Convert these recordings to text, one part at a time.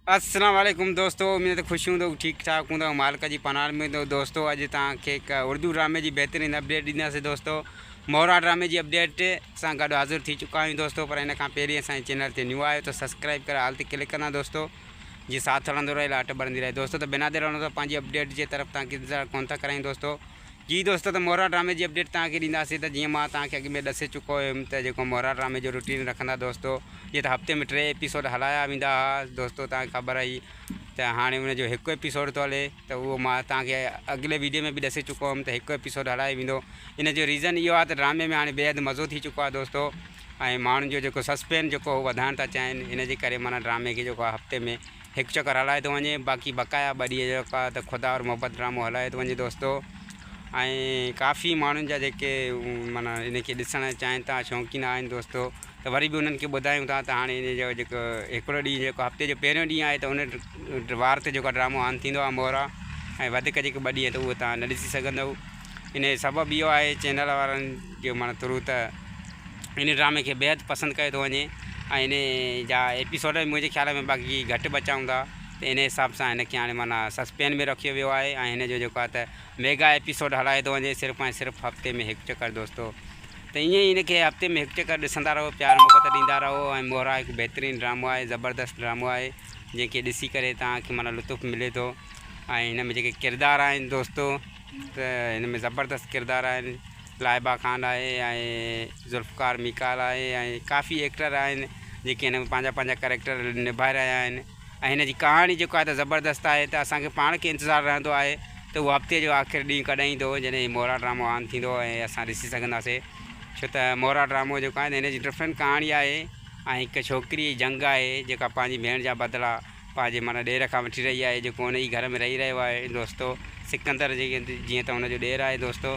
السلام عليڪم دوستو اميد ته خوش هوندؤ ٺيڪ ٺاڪ هوندؤ مالڪ جي پناهه ۾ هوندؤ دوستو اڄ توهان کي هڪ اردو ڊرامي جي بهترين اپڊيٽ ڏينداسين دوستو مورا ڊرامي جي اپڊيٽ سان گڏ حاضر ٿي چڪا آهيون دوستو پر ان کان پهرين اسان جي چينل تي نيو آيو ته سبسڪرائب ڪري آل تي ڪلڪ ڪندا دوستو جي ساٿ هلندو رهي لاٽ ٻرندي رهي دوستو ته بنا دير هلندو پنهنجي اپڊيٽ جي طرف تان ڪندا ڪون ٿا ڪرايون دوستو جي دوستو ته مورا ڊرامي جي اپڊيٽ توهان کي ڏينداسين ته جيئن مان توهان کي اڳ ۾ ڏسي چڪو هيم ته جيڪو مورا ڊرامي جو روٽين رکندا دوستو جيئن ته هفتي ۾ ٽي ايپيسوڊ هلايا ويندا ها دوستو توهان کي خبر آهي ته هاڻي ان جو هڪ ايپيسوڊ ٿو هلي ته اهو مان توهان کي اڳلي ويڊيو ۾ به ڏسي چڪو هيم ته هڪ ايپيسوڊ هلايو ويندو ان جو ريزن اهو آهي ته ڊرامي ۾ هاڻي بيحد مزو ٿي چڪو آهي دوستو ۽ ماڻهن جو جيڪو سسپين جيڪو هو وڌائڻ ٿا چاهين ان جي ڪري معنيٰ ڊرامي کي جيڪو آهي هفتي ۾ هڪ چڪر هلايو ٿو وڃي باقي بقايا ٻه ڏينهن جيڪا ته خدا اور محبت ڊرامو هلايو ٿو وڃي دوستو ۽ ڪافي ماڻهن جا جيڪي مانا ان کي ڏسڻ چاهين ٿا شوقين آهن دوستو ته وري به انهن کي ٻڌايون ٿا ته هاڻي ان جو جيڪو هڪڙو ڏينهن جيڪو هفتي جو پهريون ڏينهن آهي ته ان وار تي جيڪو ڊرامو آن ٿيندو آهي مورا ۽ وڌيڪ جيڪي ٻه ڏينهن ته اهو تان نه ڏسي سگهندؤ ان جو سبب اهو آهي چينل وارن جو معنيٰ ٿرو ته ان ڊرامي کي بيحد پسند ڪيو ٿو وڃي ۽ ان جا ايپيسوڊ به منهنجي خيال ۾ باقي گهٽ بچا هوندا ته ان حساب سان هن کي هاڻي معنيٰ سسپين ۾ رکيو ويو آهي ۽ هن جو جيڪو آهي ته ميگا ايپيسوڊ هلايو ٿو وڃي صرف ۽ صرف هفتي ۾ هڪ چڪر دوستو ته ائين ئي ان کي هفتي ۾ هڪ چڪر ڏسندا رهو پيار محبت ڏيندا رهو ۽ مورا هڪ بهترين ڊرامو آهي زبردست ڊرامو آهي جنهن کي ڏسي ڪري توهان کي معنيٰ لطف ملي ٿو ۽ هن ۾ جيڪي ڪردار آهن دوستو هن ۾ زبردست ڪردار آهن لائبا خان آهي ۽ ذوالفقار ميڪال آهي ۽ ڪافي ايڪٽر آهن جيڪي هن ۾ پنهنجا پنهنجا ڪريڪٽر نڀائي رهيا آهن ۽ هن جي ڪهاڻي جيڪو آهي ته زبردست آهي ته اسانکي پاڻ کي انتظار رهندو آهي ته اهو هفتي جو آخر ڏينهن ڪڏهن ايندو جڏهن هي مورا ڊرامو آن ٿيندو ۽ اسان ڏسي سگهنداسي ڇو ته مورا ڊرامو جيڪو آهي ته هن جي ڊفرنٽ ڪهاڻي آهي ۽ هڪ ڇوڪري جي جنگ آهي جيڪا پنهنجي ڀيڻ جا بدلا پنهنجي معنيٰ ڏير کان وٺي رهي آهي، جيڪو ان ئي گهر ۾ رهي رهيو آهي دوستو! سڪندر جيئن ته هن جو ڏير آهي دوستو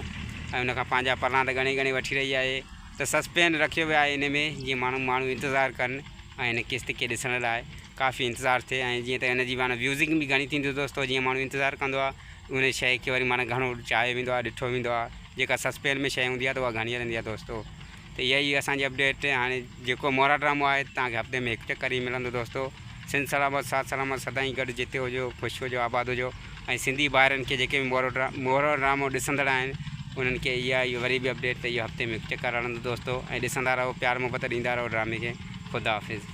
۽ ان کان پنهنجا پرڻا ته ڳڻي ڳڻي وٺي رهي آهي ته سسپين رکيو ويو آهي ان ۾ جيئن ماڻهو ماڻهو انتظار ڪن ۽ هن قسط کي ڏسڻ لاء ڪافي انتظار ٿئي ۽ جيئن ته ان جي معنيٰ ويوزنگ به گهڻي ٿيندي دوستو جيئن ماڻهو انتظار ڪندو آهي ان شيء کي وري معنيٰ گهڻو چاهيو ويندو آهي ڏٺو ويندو آهي جيڪا سسپين ۾ شيء هوندي آهي ته اها گهڻي هلندي آهي دوستو. ته اها هئي اسان جي اپڊيٽ هاڻي جيڪو مورا ڊرامو آهي توهان کي هفتي ۾ هڪ چڪر ئي ملندو دوستو سنڌ سلامت ساٿ سلامت سدائين گڏ جتي هجو خوش هجو آباد هجو ۽ سنڌي ڀائرن کي جيڪي به مورو ڊرا مورو ڊرامو ڏسندڙ آهن انهن کي اها هئي وري به اپڊيٽ ته اهو هفتي ۾ هڪ چڪر هلندو دوستو ۽ ڏسندا رهو پيار محبت ڏيندا رهو ڊرامي کي خدا حافظ.